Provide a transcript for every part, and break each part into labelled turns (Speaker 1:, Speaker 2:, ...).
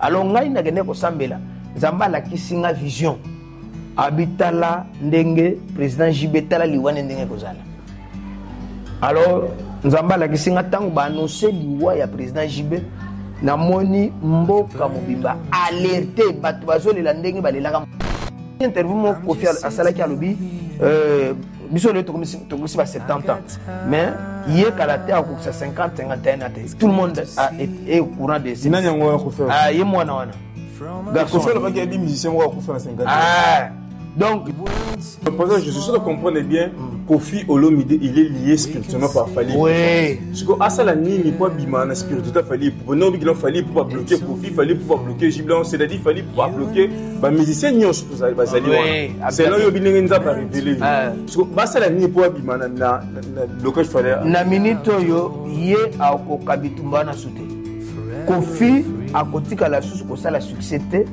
Speaker 1: alors ngai nakende kosambela nzambe alakisi nga vision abitala ndenge président jb tala liwa nde ndenge ekozala alors nzambe alakisi nga ntango baannonce liwa ya président jb namoni mboka mobimba alerte bato bazolela ndenge balelaka interview moko kofi asalaki alobi euh, biso lelo tokomisi ba 70 ans mais ye kala te akokisa 50 51 na te tout le monde est au courant de ce nani yango akofela ah
Speaker 2: ye mwana wana
Speaker 1: garçon kofela
Speaker 2: baki abi musicien moko akofela 50 ah donc pendant je suis sûr de comprendre bien mm. Kofi Olomide il est lié spirituellement par Fally oui siko
Speaker 1: asala
Speaker 2: nini po abima na spiritualité Fally po non bikilo Fally po ba bloquer Kofi Fally po ba bloquer Giblan c'est-à-dire Fally po ba bloquer ba musiciens nyonso bazali wana selo oyo bindenge nzambe arevele eh. basala nini mpo abima na blocage fale na minute oyo
Speaker 1: ye akoka bitumba wana su te kofi akotikala lisusu kosala succès te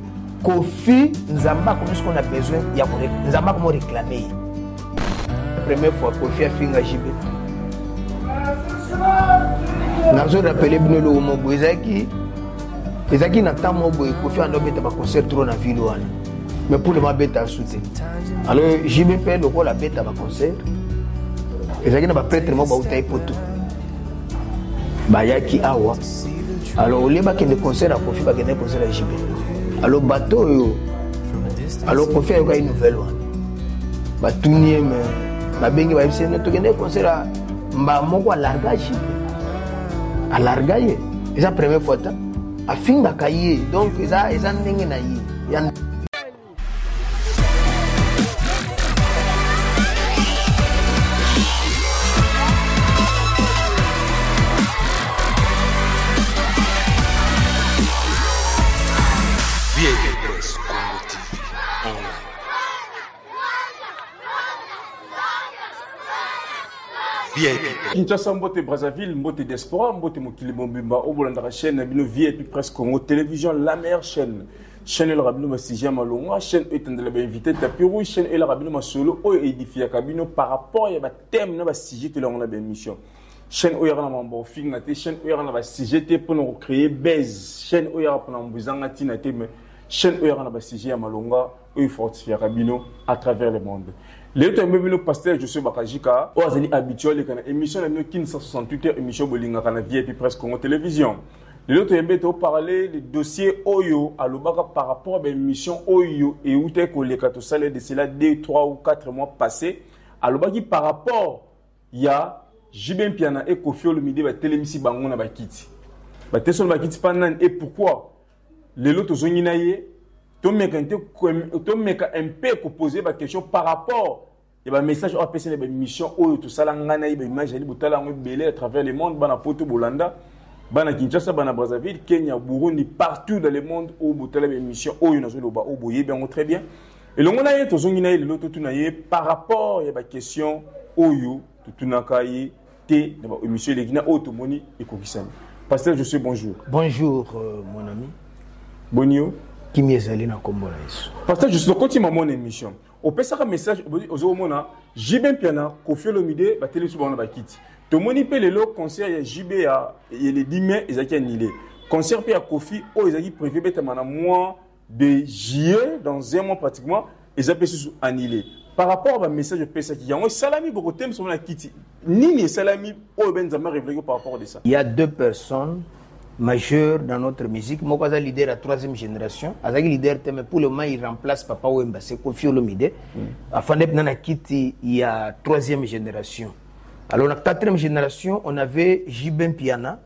Speaker 1: kofi nzambe akomisi ko na besoin ya nzambe akomo reklame ye Première fois Kofi afinga JB. nazo rappele bino eloko moko boye ezalaki ezalaki na temps moko boye kofi ando abeta baconcert trop na ville wana mais pour lema abeta asu te alors jbp lokola abeta baconcert ezalaki na bapretre moko bautai poto bayaki awa alors olie bakende concert ya kofi bakende concert ya jb alors bato oyo alors kofi ayokaki nouvelle wana batuni ye me babengi bayebisi ye tokende concert ya mbaa moko alarga jb alarga ye eza première fois ta afingaka ye donc eza eza ndenge na ye ya
Speaker 2: vip kinshasa mbote brazzaville mbote diaspora mbote mokili mobimba oyo bolandaka chaîne na bino vip presse congo télévision la meilleure chaîne chaîne elaka bino basije ya malonga chaîne oyo etandela bainvité tapi rouge chaîne elaka bino masolo oyo edifiaka bino par rapport ya bathème na basije tolango na baémission chaîne oyo yaka na mambo ofinga te chaîne oyo yaka na basije te mpo na kocreye base chaîne oyo yaka mpona mambo ezanga ntina te mais chaîne oyo yaka na basije ya malonga oyo efortifiaka bino à travers le monde lelo toyambi bino pasteur josue bakajika oyo azali habituel aleka na émission na bino kin 168 heures émission bolingaka na vip presse congo télévision lelo toyembe toparle le dossier oyo alobaka par rapport à baémission oyo eutaki koleka tosala de cela 2 3 ou 4 mois passé alobaki par rapport ya jb mpiana e kofi olomide batelemisi bango na bakiti batesi wana bakiti mpa nani e pourquoi lelo tozongi na ye tomeka mpe kopose baquestion par rapport ya ba message oyo apesi na ba émission oyo tosala ngai na ye ba image ali botala yango ebele à travers le monde bana poto bolanda bana kinshasa bana brazzaville kenya burundi partout dans le monde oyo botala ba émission oyo nazoloba oyo boyebi yango très bien elongo na ye tozongi na ye lelo totuna ye par rapport ya baquestion oyo totunaka ye te na baémission eleki na oyo tomoni ekokisami pasteur josue bonjour bonjour euh, mon
Speaker 1: ami boni yo
Speaker 2: kimia ezali
Speaker 1: na nkombo na yesu pasteur josue tokotima
Speaker 2: mona émission opesaka message ozomona jb mpiana kofi olomide bateli biso bango na bakiti tomoni mpe lelo concert ya jb ya le 10 mai ezalaki annule concert mpe ya kofi oyo ezalaki prévu ebetama na mois de juillet dans un mois pratiquement eza mpe susu annule par rapport ba message opesaki yango esalami bokotemisa ngo na kiti nini esalami oyo be nzambe arevelaki par rapport de ça il y a deux personnes
Speaker 1: majeur dans notre musique moko aza leader ya troisième génération azalaki leader te mais pour le moment il remplace papa wemba se kofi olomide mm. afandaki mpenza na kiti ya troisième génération alors na quatrième génération on avait jibin piana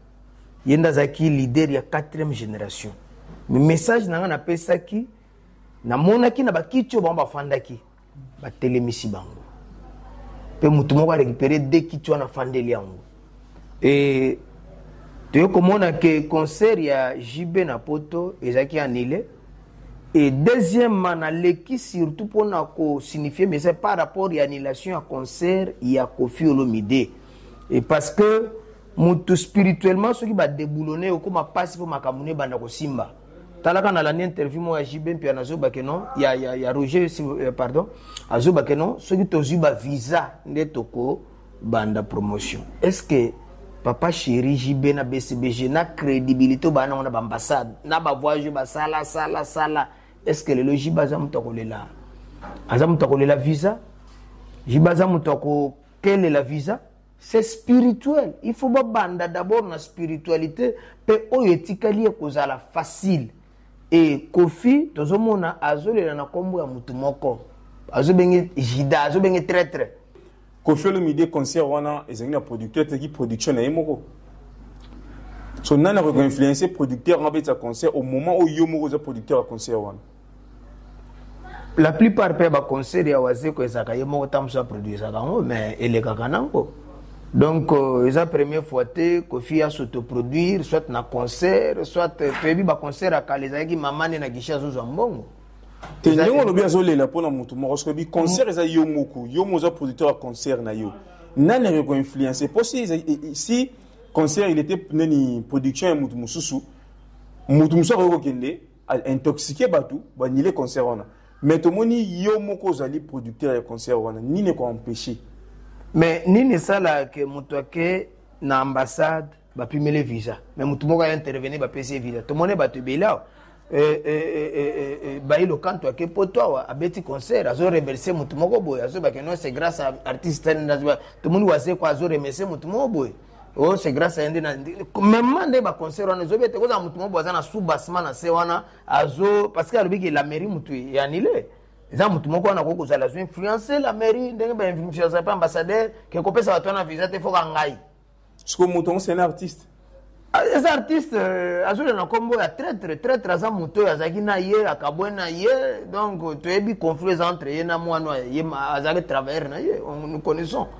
Speaker 1: ye nde azalaki leader ya quatrième génération mais message na ngai napesaki namonaki na bakiti oyo bango bafandaki batelemisi bango mpe motu moko arekipere de kiti wana afandeli yango e toye komona ke concert ya jb na poto ezalaki annule e deuxièmement naleki surtout mpona kosignifie message par rapport ya annulation ya concert ya kofi olomide e parce que motu spirituellement soki badeboulone okoma mpasi mpo makambo no ebanda kosimba talaka na landi interview moko ya jb mpe nazobake no ya, ya, ya roger euh, pardon azobake no soki tozwi bavisa nde tokobanda promotion est ce que papa chéri jb na bcbg na crédibilité obaa nango na baambassade na bavoyage basala sala sala est ce que lelo jb aza moto akolela aza moto akolela visa jb aza moto akokelela visa c'est spirituel il faut babanda d'abord na spiritualité mpe oyo etikali ekozala facile e kofi tozomona azolela na nkombo ya motu moko azobenge jida azobenge traitre kofi
Speaker 2: olomide concert wana ezalaki na producteur teki production na ye moko so nani akoki koinfluence producteur wana abetisa concert au moment oyo yo moko oza producteur ya concert wana
Speaker 1: la plupart mpe ya baconcert ya wazeko ezalaka ye moko ntango mosusu aproduisaka yango mais elekaka nango donc euh, eza première fois te kofi asotoproduire soit na concert soit toyebi baconcert ya kala ezalaki mama nde na gishi azozwa mbongo te ndenge
Speaker 2: olobi azolela mpo na motu moko soki oyebi concert eza yo moko yo moko oza producteur ya concert na yo nani akoki koinfluence mpo si, si concert il était nani production ya motu mosusu motu mosusu akoki kokende intoxique bato banile concert wana mais tomoni yo moko ozali producteur ya concert wana nini ekoempeshe mais
Speaker 1: nini esala ke moto ake na ambassade bapimele visa mais moto moko aya interveni bapesi ye visa tomoni bato ebele awa eh, eh, eh, bayi lokanto ake poto awa abeti concert azo remercie moto moko boye azoyebake no c'est grâce à artiste tomoni wazeko azo remercie moto moko boye oh c'est grâce à yende mema nde baconcert wana ezobi ete kozala motu moko aza na sous basement na se wana azo parce que alobi ke la mairie motu ya nile eza motu moko wana akoki kozala azo influence la mairie ndenge bainfluence pe ambassadeur ke kopesa bato wana visa te foka ngai siko motu
Speaker 2: yango sena artiste ah, eza
Speaker 1: artiste euh, azolela na nkombo ya traitre traitre aza moto oyo azalaki na ye akabwe na ye donc toyebi conflit eza entre ye na mwana ye azalaki travailleur na ye nous connaissons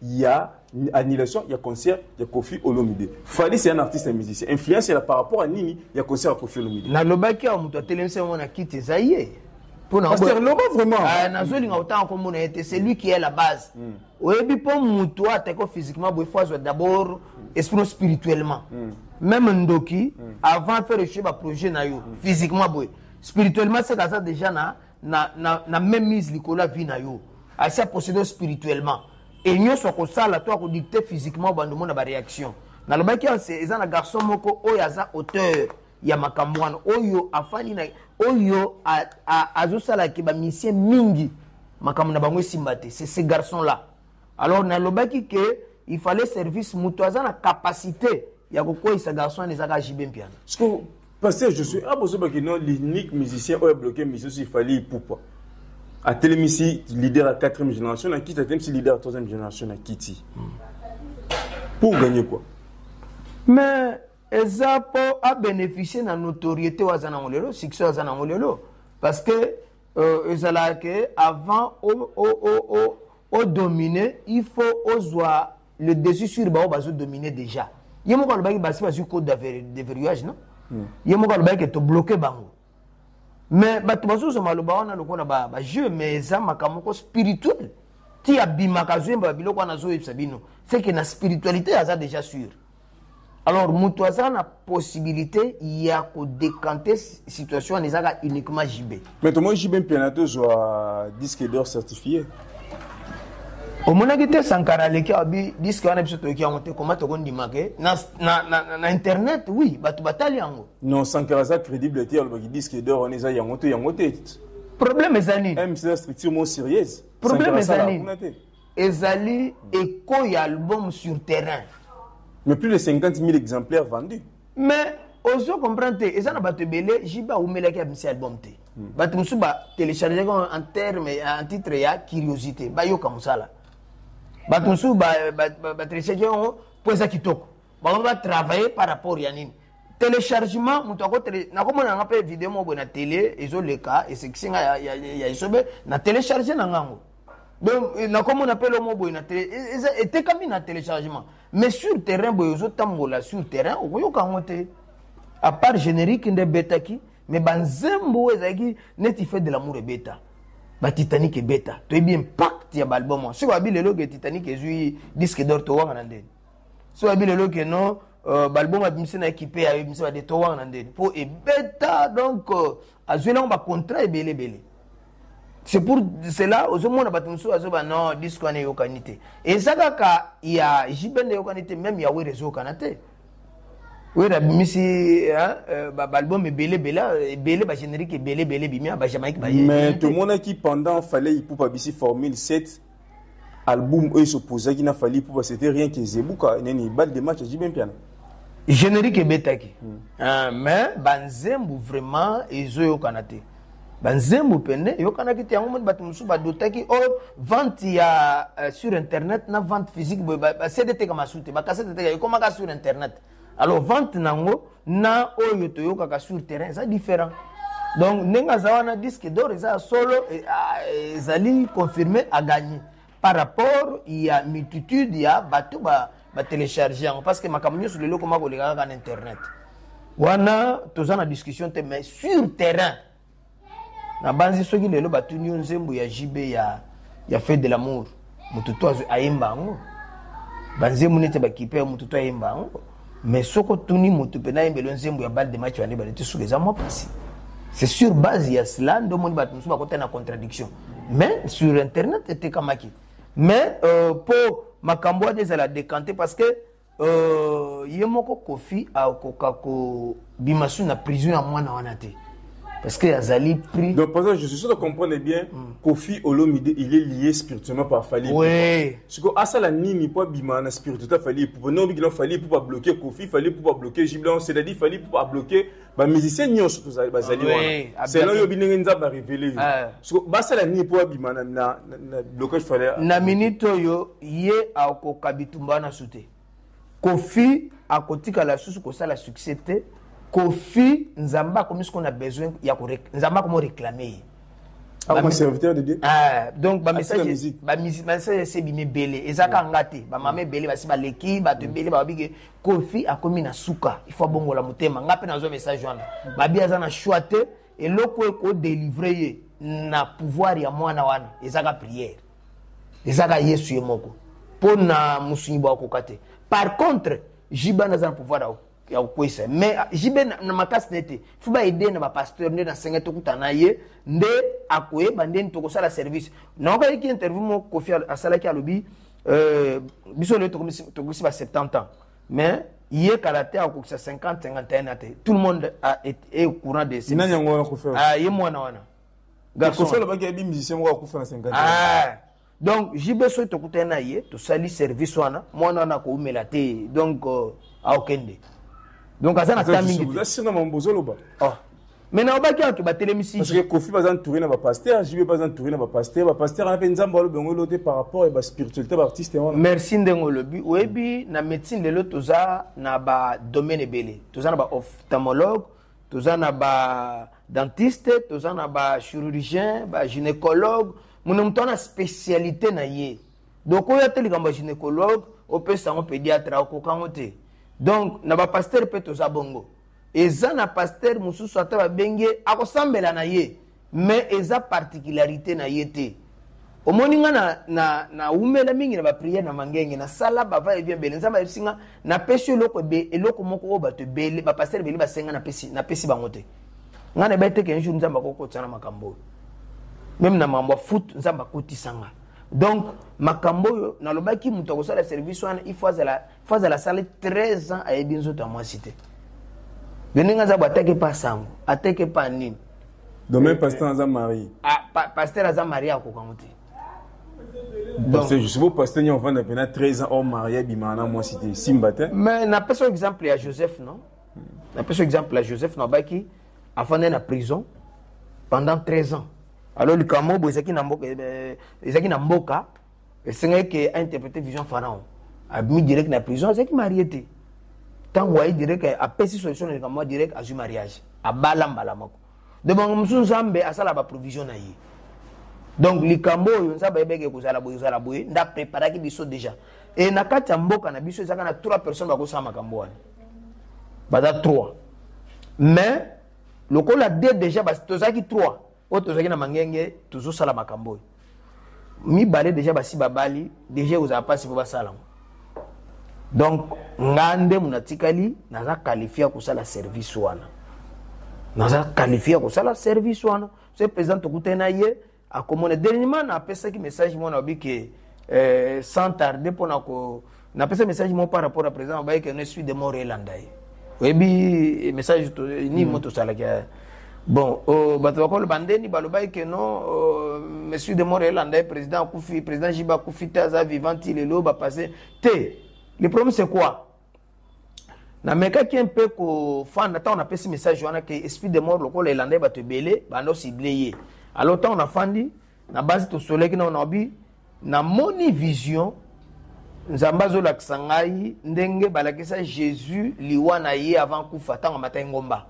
Speaker 2: ya annulation ya concert ya Kofi Olomide. Fally c'est un artiste un musicien. Influence ya par rapport à nini ya concert ya Kofi Olomide. Na lobaki ya mutu
Speaker 1: atelemisa yango na kiti eza ye. Pona Pasteur
Speaker 2: Loba vraiment. Ah na zoli nga otanga
Speaker 1: ko mona ete c'est lui qui est la base. Mm. Oyebi po mutu atako physiquement bo faut azwa d'abord esprit spirituellement. Mm. Même ndoki mm. avant faire le projet na yo mm. physiquement boye. Spirituellement c'est kaza déjà na na, na, na même mise likolo ya vie na yo asi aposede yo spirituellement e nyonso akosala to akodicte physiquement obanda omona baréaction nalobaki eza na garçon moko oyo aza auteur ya makambo wana oyo afandi na oyo azosalaki bamisie mingi makambo na bango esimba te c'est ce garçon là Alors nalobaki que il fallait service mutu aza na capacité ya kokweyisa garçon wana ezaka JB Mpiana. Siko
Speaker 2: pasteur Josué abozobaki non l'unique musicien oyo abloke mission si fallait ipupa atelemisi leader ya 4e génération na kiti atelemisi leader ya 3e génération na kiti pour gagner quoi mais
Speaker 1: eza mpo abénéficie na notoriété oyo aza nango lelo succès oyo aza nango lelo parce que euh, ezalaka ke avant odomine il faut ozwa le dessus sur baoyo bazodomine déjà ye moko alobaki basi bazwi code de verrouillage non hmm. ye moko alobaki ke tobloke bango mais bato bazozwa maloba wana lokola bajeu mais eza makambo moko spirituel ti abimaka azoyemba babiloko wana azoyebisa bino seke na spiritualité aza déjà sure alors moto aza na possibilité ya kodekante situation wana ezaka uniquement jb mais tomoni jb mpiana
Speaker 2: tozwa disque d'or certifié
Speaker 1: omonaki te sankara aleki abi diske wana biso toyoki yango te koma tokondima ke na, na, na, na internet oui bato batali yango non sankara aza
Speaker 2: crédible te alobaki diske d'or wana eza yango to yango te problème
Speaker 1: eza nini mcda structure mo
Speaker 2: sérieuse problème eza nini
Speaker 1: Ezali echo ya album sur terrain. Mais plus de
Speaker 2: 50 000 exemplaires vendus. Mais
Speaker 1: ozo comprendre te eza na bato ebele jb awumelaki abimisi album te hmm. bato mosusu batelechargeki en terme en titre ya curiosité bayoka mosala bato mosusu batelechargeki yango mpo eza kitoko bango batravaille par rapport ya nini téléchargement moto akotele nakomona yanga mpe video moko boye na tele ezoleka esekisi nga ya esobe na télécharge na ngango donc eh, nakomona mpe lomo boye na tele e, eza etekami na téléchargement mais sur terrain boye ozotambola sur terrain okoyoka yango te à part générique nde ebetaki mais banzembo oyo ezalaki neti fait de l'amour ebeta batitanic ebeta toyebi impact ya baalbum wana soki babi lelo ke titanic ezwi disque d'or towanga na ndeni soki babi lelo ke non euh, baalbum abimisi na ekipe ya ebimisi bade towanga na ndeni mpo ebeta donc euh, azwi nango bacontrat ebele ebele c'est pour cela ozomona bato mosusu azoba non disque wana eyokani te eza kaka ya jbn eyokani te meme ya were ezokana te were abimisi euh, baalbum ebele ebele ebele bagénérique ebele ebele bimia bajamaïque baye mais tomonaki
Speaker 2: pendant fallait ipupa bisi formule 7 album oyo esopozaki na fali pupa c'était rien que zebuka nini balle de match ya jibe mpiana générique
Speaker 1: ebetaki hmm. ah, mais banzembo vraiment ezoyokana te banzembo pene eyokanaki te yango moni bato mosusu badotaki o oh, vente ya euh, sur internet na vente physique boye basede eteka masu te bakasete eteka ekomaka sur internet alors vente na yango na oyo toyokaka sur terrain eza différent donc ndenge aza wana disque d'or eza ya solo e, ezali confirme aganye par rapport ya multitude ya bato batelecharge yango parce que makambo nyonso lelo ekoma koleka kaka na internet wana toza na discussion te mais sur terrain nabanzi soki lelo batuni yo nzembo ya jb ya, ya fete de lamour moto to ayemba yango banzembo neti bakipe moto to ayemba yango mais soki otuni moto mpe nayembelo nzembo ya bal de match wana ebale te suka eza mwa mpasi c'est sur base ya cela nde omoni bato mosusu bakota na contradiction mais sur internet etekamaki mais euh, mpo makambo wana ezala décante parce que Euh, ye moko kofi akoka kobima su na prison ya mwana wana te parce que azali pris donc par exemple je suis sûr de
Speaker 2: comprendre bien mm. kofi olomide il est lié spirituellement par fali oui. siko
Speaker 1: asala
Speaker 2: nini mpo abima na spiritualité fali epupa nobikina fali epupa bloquer kofi fali epupa bloquer jiblan c'est-à-dire fali epupa bloquer ba musiciens nyonso tozali bazali ah wana selon yo binenge nzambe arevele yo ah. siko basala nini mpo abima na blocage fale na minute oyo
Speaker 1: ye akoka bitumba wana su te kofi akotikala lisusu kosala succès te kofi nzambe akomi siko na besoin ya nzambe akomi oreklame ye akoma
Speaker 2: serviteur de dieu ah, donc
Speaker 1: bamessage ese bimi ebele ezaka nga te bamama ebele basi baleki bato ebele bababi ke kofi akomi na suka il faut abongola motema nga mpe nazwa message wana babi aza na choix te eloko oyo kodelivre ye na pouvoir ya mwana wana ezaka priere ezaka yesu ye moko mpo na mosungi bakokoka te par contre jiba naza na pouvoir ya ya kokwesa mais ah, jibe na, na makasi na ye te fo baede na bapasteur nde nasenga tokuta na ye nde akoyeba ndeni tokosala service naokaliki interview moko kofi asalaki alobi euh, biso lelo tokoki ba 70 ans mais ye kala te akokisa 50 51 ate tout le monde a, est, est au courant de ces nani yango akufa ah ye
Speaker 2: mwana wana
Speaker 1: garçon kofi
Speaker 2: alobaki yebi musicien moko akufa na 50 ah donc
Speaker 1: jb soki tokutani na ye tosali service wana mwana wana akoumela te donc uh, aokende donc aza na ta mingi te ozoloba oh. mais nalobaki wana tobatelemisi parce que kofi baza entouré
Speaker 2: na bapaster jb baza entouré na bapaster bapaster wana mpe nzambe alobi yango elo te par rapport ya baspiritualité baartiste wana merci ndenge olobi
Speaker 1: oyebi na médecine lelo toza na badomaine ebele toza na baophtalmologue toza na badentiste toza na bachirurgien bagynécologue mona moto wana spécialité na ye donc oyo ate likambo ya gynécologue opesa yango pédiatre akoka yango te donc na bapaster mpe toza bongo eza na pasteur mosusu ata babengi ye akosambela na ye mais eza particularité na ye te omoni nga na, na, na umela mingi na bapriere na mangenge nasala bava evi ebele nzambe ayebisi nga napesi eloko, eloko moko oyo bato ebele bapastere ebele basenga napesi, napesi bango te nga na ebete ke jour nzambe akokotisa na makambo oyo meme na mambo ya foot nzambe akotisa nga donc makambo oyo nalobaki moto akosala service wana il faut azala fazala asali 13 ans ayebi nzoto ya mwasi te yo ndenge aza bo ateke mpa sango ateke mpa nini domaine eh, pasteur
Speaker 2: eh. aza marie ah, pa, pasteur aza
Speaker 1: marie akoka ngo te
Speaker 2: parce que je suppose pasteur nyo vanda pena 13 ans au marié bima na moi c'était simba te mais na pesa
Speaker 1: exemple ya Joseph non na pesa exemple ya Joseph na baki afanda na prison pendant 13 ans alors likambo bo ezaki na mboka eh, ezaki na mboka esengaki ke interprete vision pharaon abimi direct na prison azalaki marie te ntango aye direct apesi solution na likambo direct azwi mariage abala mbala moko donc bango mosusu nzambe asala baprovision na ye donc likambo oyo nzambe ayebaki ekozala boye ezala boye nda preparaki biso déjà e na kati ya mboka na biso ezaka na trois personnes bakosala makambo wana baza trois mais lokola de déjà tozalaki trois oyo tozalaki na mangenge tozosala makambo oyo mibale deja basi babali deja ekozala mpasi mpo basala yango donc nga nde monatikali naza qualifie ya kosala service wana naza qualifie ya kosala service wana se président tokutani na ye akomona dernièrement napesaki message mwana obi ke eh, sans tarde mpo na ko Na pesa message mo par rapport à président ba que ne suis de mort elanda ye. Oyebi message to ni moto sala ke bon oh, bato bakolo bandeni balobaki ke non oh, monsieur de mort elanda ye président akufi président jiba akufi te aza vivant ti lelo bapasse te le problème c'est quoi namekaki mpe kofanda ntango napesi message wana ke esprit de mort lokola elanda ye bato ebele banda osible ye alors ntango nafandi na basi tosoleki na onabi namoni vision nzambe azolakisa ngai ndenge balakisa jésus liwa na ye avant kufa ntango amataki ngomba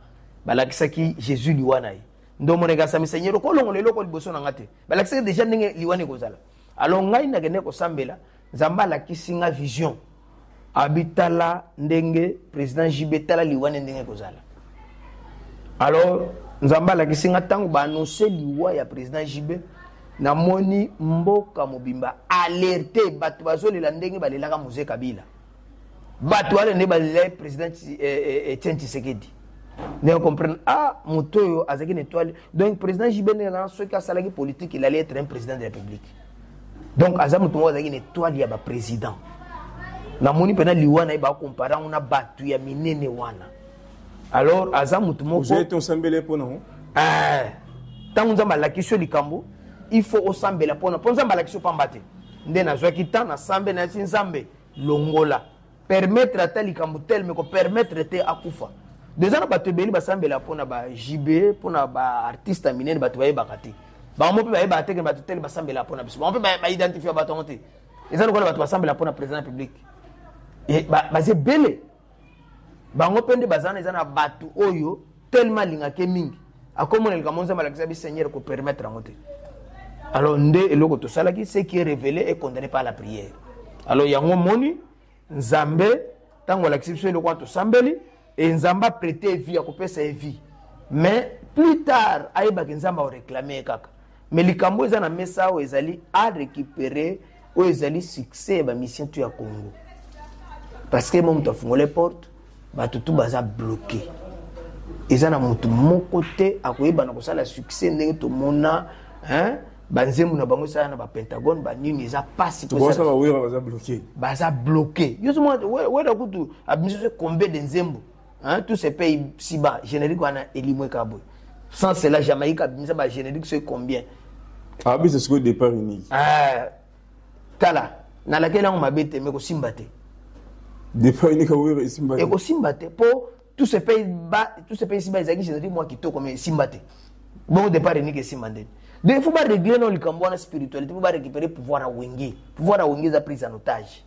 Speaker 1: balakisaki jésus liwa na ye nde omonaki asami seigneur okolongola eloko liboso na ngai te balakisaki deja ndenge liwa na ekozala alors ngai nakende kosambela nzambe alakisi nga vision abi tala ndenge président jb tala liwa nde ndenge ekozala alors nzambe alakisi nga ntango baannonce liwa ya président jb namoni mboka mobimba alerte bato bazolela ndenge balelaka mose kabila bato wana nde balela président etienne eh, eh, eh, tshisekedi ndenge comprendre ah moto oyo azalaki na étoile donc président jb ndenge soki asalaki politique il allait être un président de la république donc aza moto moko azalaki na etoile ya baprésident namoni mpena liwa na ye bakompare yango na bato ya minene wana alors aza moto mokosambele mpona ntango eh, nzambe alakisi yo likambo il faut osambela mpona mpo nzambe alakisi yo mpamba te nde nazwaki temps nasambe nayasi nzambe longola permettre ata likambo telme ko permettre te akufa deja na bato ebele basambela mpo na ba jb mpo na baartiste ya minene bato bayebaka te bango mpe bayebaka te ke bato tele basambela mpo na biso bango mpe baidentifia bato yango te eza lokola bato basambela mpo na président ya public baza ebele bango mpe nde baza na eza na bato oyo tellement alingaka ye mingi akomona likambo nzambe alakisa bi seigneur kopermettre yango te alors nde eloko tosalaki ce qui est révélé est condamné par la prière alors yango moni nzambe ntango alakisi biso eloko wana tosambeli e nzambe aprete vie akopesa ye vie mais plus tard ayebaki nzambe aoreklame ye kaka mais likambo oyo eza na mesa awa ezali a récupérer oyo ezali succès ya bamisien tu ya congo parce que mo moto afungole porte bato tu baza bloqué eza na moto moko te akoyebana kosala succès ndenge tomona hein? banzembo na bango esala na bapentagone banini eza mpasi
Speaker 2: baza
Speaker 1: bloke yo zomona wera kutu abimisi combien de nzembo hein, tous ces pays si bas générique wana elimwe kaka boye sans cela jamaïque abimisa ba générique soki combien abisa
Speaker 2: sikoyo départ unique eh,
Speaker 1: tala nalakeli yango mabe te me kosimba te
Speaker 2: départ unique awero esimba te ekosimba te
Speaker 1: mpo tous ces pays bas tous ces pays si bas ezalaki générique mwa kitoko me esimba te bongo départ unique esimba ndeni donc il faut baréglé no likambo wana spiritualité mpo barécupere pouvoir ya wenge pouvoir ya wenge eza prise en otage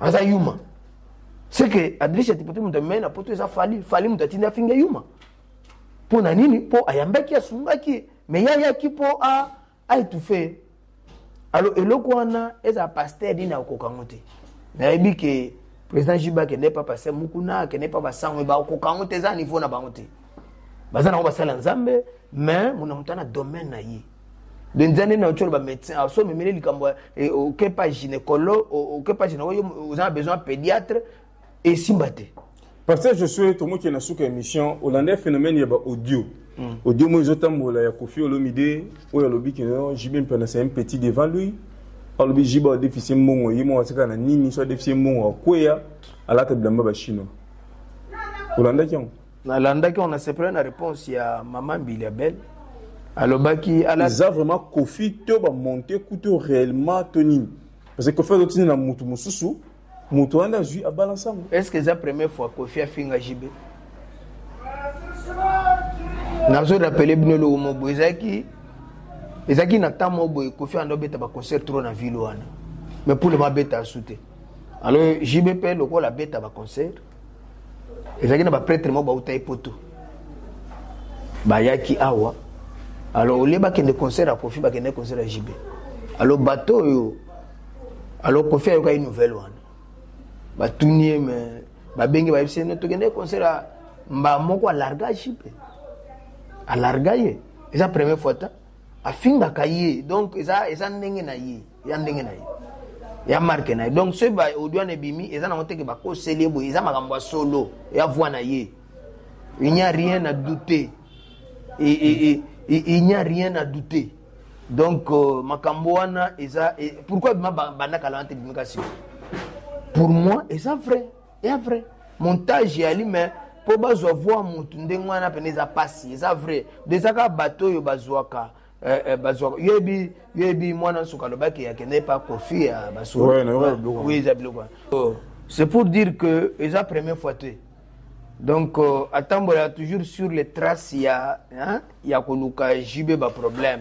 Speaker 1: aza yuma c'est que adriche tipote moto amemai na poto eza fali fali moto atindi afinga yuma mpo na nini mpo ayambaki asungaki ye me ye ayaki mpo aetufe ye alo eloko wana ezala paster nini akokoka yango te nayebi ke président jiba akende pa paster mukuna akende pa basango bakokoka yango te eza niveau na bango te baza nango basala nzambe mais mona moto ana domaine na ye benza nde na otyoloba médecin ah, so omemeli likambo eh, okepa gynécologue okepa gynécologue oza na besoin ya pédiatre esimba te pasteur josue
Speaker 2: tomokende na suka émission olanda phénomène ya baaudio hmm. audio moi ezotambola ya kofi olomide oyo alobi kino jb mpena c'est un petit devant lui alobi jb adefisi mbongo ye moko atikala na nini so adefisi mbongo akweya alata bilamba bachinois olandaki yango nalandaki on
Speaker 1: asepela na réponse ya mama mbili ya belle
Speaker 2: alobaki ala... eza
Speaker 1: vraiment
Speaker 2: kofi to bamonte kuto
Speaker 1: réellement
Speaker 2: to nini parce que kofi azotinda na motu mosusu motu wana nde azwi abalance yango est ce que eza première
Speaker 1: fois kofi afinga jibe nazo rappele bino eloko moko boye ezalaki ezalaki na temps moko boye kofi anda obeta baconcert trop na ville wana mais pour le moment abeta asu te alors jbp lokola abeta baconcert ezalaki na bapretre moko bauta ye poto bayaki awa alors olie bakende concert ya kofi bakende concert ya jb alors bato oyo alors kofi ayokaki nouvelle wana batuni ye me babenge bayebisi ye tokende concert ya mba moko alarga jb alarga ye eza première fois ta afingaka ye donc eza, eza ndenge na ye ya ndenge na ye ya marke na ye donc soki ba audio wana ebimi eza nango teke bakoseli ye boye eza makambo ya solo ya voi na ye il n'y a rien à douter et, et, et, et il n'y a rien à douter donc euh, makambo wana eza e, pourquoi ebima banda kala wana te ebimi kasi pour moi eza vrai eza vrai montage eyali mais mpo bazwa voi motu ndenge wana mpena eza mpasi eza vrai do eza kaka bato oyo bazwaka Eh, eh, bazwaka yebi yebi mwana nsuka alobaki akende epa kofi ya basolo eza biloko oh, c'est pour dire que eza première fois te donc euh, atambola toujours sur les traces ya hein, ya koluka jb baproblème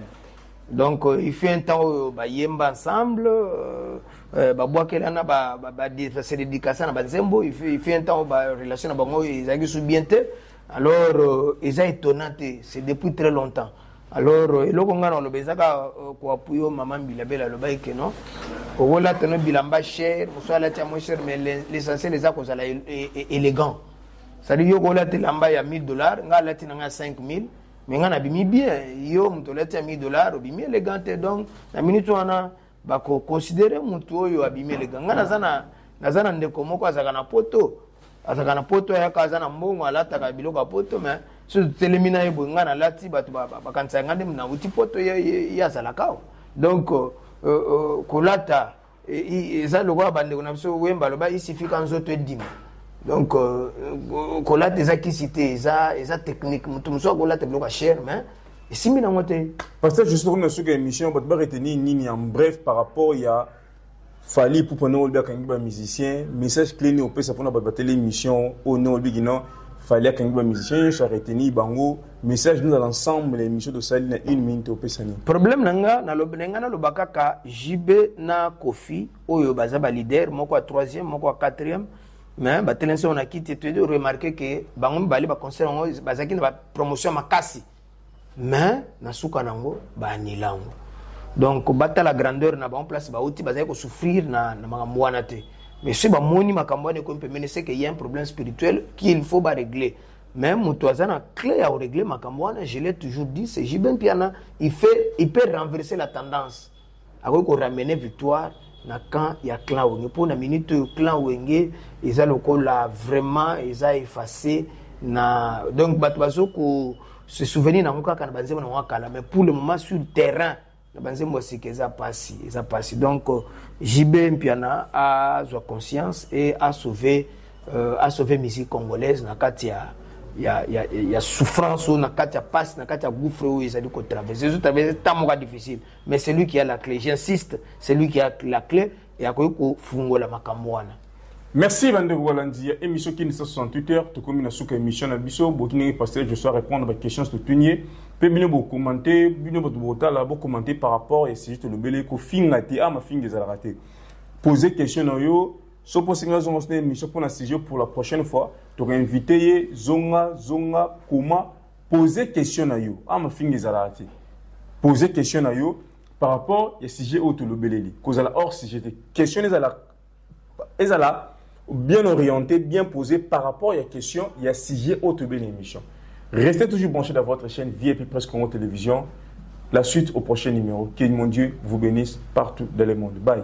Speaker 1: donc euh, il fait un temps oyo bayemba ensemble euh, euh, babwakelana base dedikasa na banzembo il fait un temps barelation na bango ezalaki su bien te alors euh, eza étonnant te c'est depuis très longtemps alors eloko ngai naloba eza kaka euh, koapuyo mama mbila bela alobaki ke non okolata no bilamba cher mosusu alati ya moins cher mais l'essentiel eza kozala e, e, e, élégant cestadire yo okolata elamba ya 1000 dollars ngai alati na ngai ya 5000 mais ngai nabimi bien yo moto olati ya 1000 dollars obimi élégant te donc na minute wana bakoconsidere motu oyo abimi eleka ngai naza na naza na ndeko moko azalaka na poto azalaka na poto ayaka aza na mbongo alataka biloko ya poto mais soki totelemi na ye boye ngai nalati bato bakanisaka ngai nde nauti poto ye azalaka awa donc euh, euh, kolata e, eza lokola bandeko na biso wemba aloba isifika nzoto edima donc euh, kolata eza kisi te eza technique moto mosusu akolata biloko ya chere mais esimbi nango te pasteur juste tokomi na
Speaker 2: suki ya émission bato baretenir nini en bref par rapport ya fali ipupa ndenge olobi akangi bamusicien message clé nini opesa mpona bato bateli émission oyo ndenge olobi kino fali akangi bamusicien nyonso aretenir bango message nozala ensemble ya émission tosali na une minute opesa nini problème na nga na
Speaker 1: nga naloba kaka jb na kofi oyo baza baleader moko ya troisième moko ya quatrième mais batelemisi yango na kiti toyede remarke ke bango mibale baconcert yango bazalaki na bapromotion makasi mais na suka na yango baanila yango donc batala grandeur na bango place bauti bazali kosouffrir na, na makambo wana te mais soki bamoni makambo wana ekomi pembeni seke ya un problème spirituel qu'il faut baregle mais moto aza na clé ya koregle makambo wana je l'ai toujours dit c'est jibin piana il, fait, il peut renverser la tendance akoki ko ramener victoire na camp ya clan wenge mpo na minute oyo clan wenge eza lokola vraiment eza efface na donc bato bazo ko se souvenir nango kaka na banzembo nango akala mais pour le moment sur terrain na banzembo ya sika eza mpasi eza mpasi donc euh, jb mpiana azwa conscience e asauve euh, asauve musique congolaise na kati ya ya, ya, ya souffrance oyo na kati ya mpasi na kati ya gouffre oyo ezali kotraverse ezotraverse ntango moka difficile mais celui qui a la clé j'insiste celui qui a la clé yakoki kofungola makambo wana merci bandeko
Speaker 2: balandi ya émission kini 168 heures tokomi na suka émission na biso boki ndenge pasteur josua répondre baquestion totuni ye mpe bino bokomante bino bato botala bokomante par rapport ya sujet tolobeli kofinga te a ah, mafinga ezalaka te pose question na yo so mpo osengi azonga so na émission mpo na sujet pour la prochaine fois tokoinvite ye zonga zonga koma Poser question na yo. Ah, mafinga ezalaka te. Poser question na yo par rapport ya sujet oyo tolobeleli. Kozala hors sujet te. Question ezala ezala bien orienté, bien posé par rapport à la question, il y a sujet autre de l'émission. Restez toujours branchés dans votre chaîne VIP Presse Congo Télévision. La suite au prochain numéro. Que mon Dieu vous bénisse partout dans le monde. Bye.